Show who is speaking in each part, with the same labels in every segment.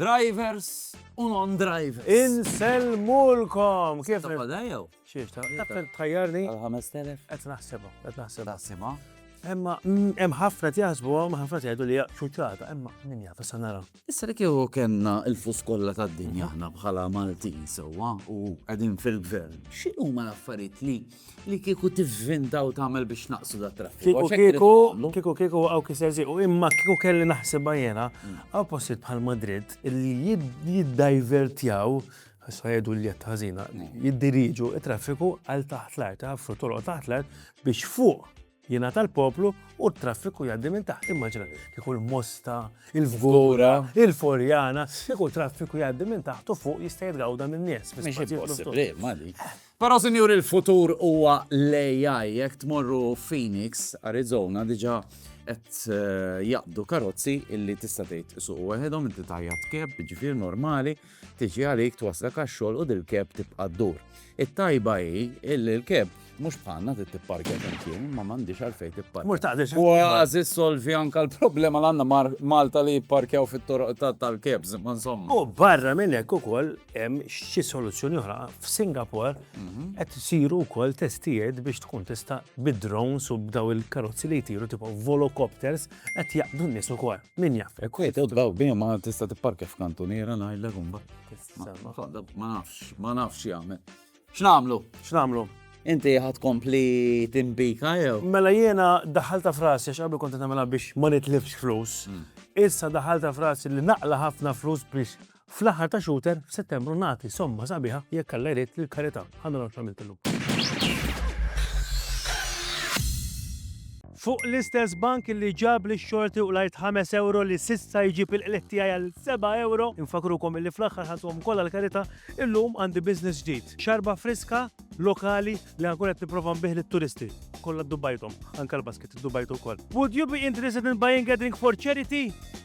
Speaker 1: Drivers u non-drivers. Insellmulkom!
Speaker 2: Kif Ta' fadajja?
Speaker 1: Xiex
Speaker 2: ta' tħajjarni? Għal-5000? Qed
Speaker 1: naħsibha, qed
Speaker 2: naħsibha. Naħsibha?
Speaker 1: Emma, mm,
Speaker 2: hemm ħafna jaħsbu, hemm ħafna jgħidu li ċuċata, emma min jaf issa nara. Issa li kieku kellna
Speaker 1: il-fus kollha tad-dinja aħna bħala Maltin sewwa u qegħdin fil-gvern, x'inhuma l-affarijiet li li kiku tivvinda u tagħmel biex naqsu da traffiku. Kiku kiku, kiku
Speaker 2: kiku għaw kiser ziqu, imma kiku kelli naħseb jena, għaw postiet bħal Madrid li jiddajvertjaw sajdu li jett ħazina, jiddiriġu il-traffiku għal taħt l-art, għafru tolqo taħt l-art biex fuq Jingħata l-poplu u t-traffiku jgħaddi minn taħt. Immaġina, kieku l-Mosta, il-Fgura, il-Forjana, kieku traffiku jgħaddi minn taħt u fuq jista' jitgawda minn nies.
Speaker 1: Però sinjur il-futur huwa l-AI jekk tmorru Phoenix, Arizona diġà qed eh, jaqbdu karozzi illi tista' tgħid isuq waħedhom inti tajja tkeb, ġifier normali. Tiġi għalik, twasslek għax-xogħol u dil-keb tibqa' ddur. It-tajba hi illi l-keb mhux bħalna trid tipparkja flimkien imma m'għandhiex għalfejn tipparkja. Mur taqdex. Kważi
Speaker 2: ssolvi
Speaker 1: anke l-problema li għandna ma' Malta li jipparkjaw fit-toroq tal-kebs, imma insomma. U barra minn hekk
Speaker 2: ukoll hemm xi soluzzjoni oħra. F'Singapore qed isiru wkoll testijiet biex tkun tista' bid-drones u b'daw il-karozzi li jtiru tipo volocopters qed jaqdu n-nies ukoll. Min jaf. Jekk wieħed jitla' b'him ma
Speaker 1: tista' tipparkja f'kantuniera ngħidlek imbagħad. Ma nafx, ma nafx x'jagħmel. X'nagħmlu? X'nagħmlu? Inti ħa tkompli timpika jew? Mela jiena
Speaker 2: daħħaltha f'rasi għax qabel kont qed nagħmilha biex ma nitlifx flus. Issa daħħaltha f'rasi li naqla' ħafna flus biex Fl-aħħar ta' Shooter f'Settembru nagħti somma sabiħa jekk Alla jrid lill-karità. Ħa naraw x'għamilt illum. Fuq l-istess bank li ġab li xorti u lajt 5 euro li sissa jġib il-qliħ tiegħi għal 7 euro, infakrukom li fl-aħħar ħadhom kollha l-karità, illum għandi business ġdid. Xarba friska, lokali li għankun qed nipprova nbih lit-turisti. Kollha ddubajthom, anke l-basket iddubajtu wkoll. Would you be interested in buying a drink for charity?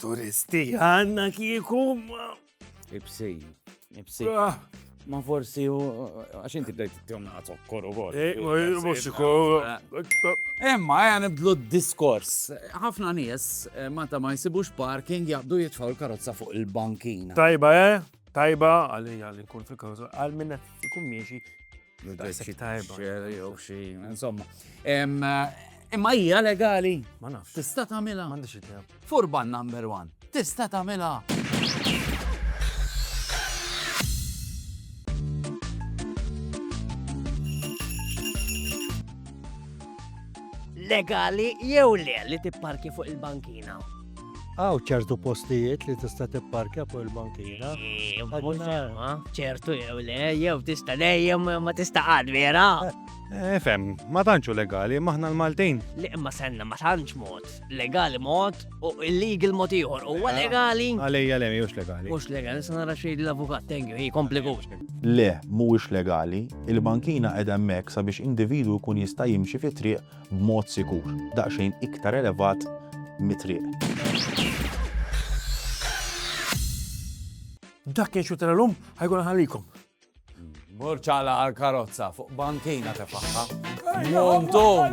Speaker 2: Turisti għanna kieku.
Speaker 1: Ibsej. Ibsej. Ah. Ma forsi u għax inti bdejt t-tjom naħtok koru għor. Muxiko. Emma, għan eh, nibdlu d-diskors. ħafna nies eh, ma ta' ma jisibux parking jabdu jitfaw l-karozza fuq il-bankina. Tajba, eh?
Speaker 2: Tajba, għalli għalli kun fil-karozza. Għal minna jkun miexi Daqshekk ta' erba'. Xer jew xi,
Speaker 1: insomma. Em, Imma hija legali. Ma nafx. Tista'
Speaker 2: tagħmilha. M'għandix
Speaker 1: idea. Furban
Speaker 2: number
Speaker 1: one. Tista' tagħmilha.
Speaker 3: Legali jew le li tipparki fuq il-bankina? Għaw
Speaker 4: ċertu postijiet li tista' tipparkja fuq il-bankina.
Speaker 3: ċertu jew le, jew tista' le, jew ma tista' għad vera. Eh, fem,
Speaker 5: ma tantxu legali, maħna l-Maltin. Li imma senna ma
Speaker 3: tantx mod. Legali mod u illegal mod ieħor. Huwa eh, legali. Għalija le mhux legali.
Speaker 5: Mhux legali, se nara xejn
Speaker 3: l-avukat, thank you, hi komplikus. Le, mhuwiex
Speaker 6: legali, il-bankina qed hemmhekk sabiex individwu jkun jista' jimxi fi triq b'mod sikur, daqsxejn iktar elevat mit-triq.
Speaker 2: Dak kien xut tal-lum, ħajkun ħallikom.
Speaker 1: Burċala għal-karozza fuq bankina tefaħħa. Montum!